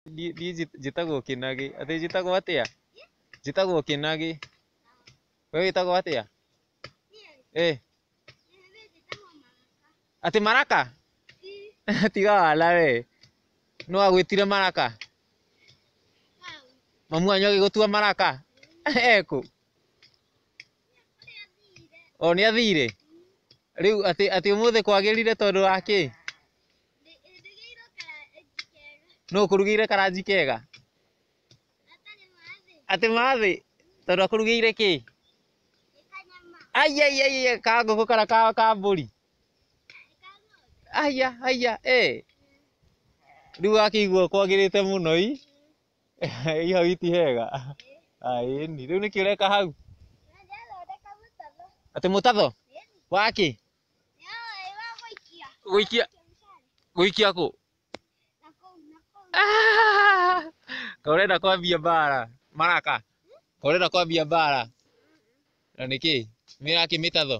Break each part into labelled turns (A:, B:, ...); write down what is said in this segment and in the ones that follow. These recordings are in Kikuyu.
A: Ndiĩ njĩtagwo Kĩnagĩ. Atĩ njĩtagwo atĩa? Njĩtagwo Kĩnagĩ. We wĩtagwo atĩa? Ĩĩ. Atĩ Maraka? Tiga wana we. Nũ wagwĩtire Maraka? Mamu wanyu agĩgũtua Maraka? E kũ? O nĩathire? Rĩu atĩ atĩ ũmũthĩ kwagĩrire tondũ wa kĩ? Nũ ũkũrugĩire karanji kega? Atĩ ma thĩ? Tondũ akũrugĩire kĩ? Aiya aiya aiya ka ngũkũ kana ka ka mbũri? Aiya aiya ĩ. Rĩu wakĩigua kwagĩrĩte mũno i? Ĩ hau iti hega? Ĩni. Rĩu nĩkĩ ũreka hau? Atĩ mũtatho? Wa kĩ? gũikia gũikia kũ Ah! Kaĩ ũrenda kwambia mbara maraka Kaĩ ũrenda kwambia mbara na nĩkĩ mĩrakĩ mĩtatho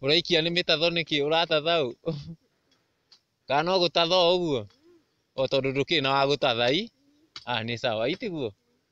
A: ũraikia nĩ mĩtatho nĩkĩ ũratatha ũ kana no gũtatha o ũguo o tondũ ndũkĩrĩ na wa gũtatha i ah nĩ sawa itiguo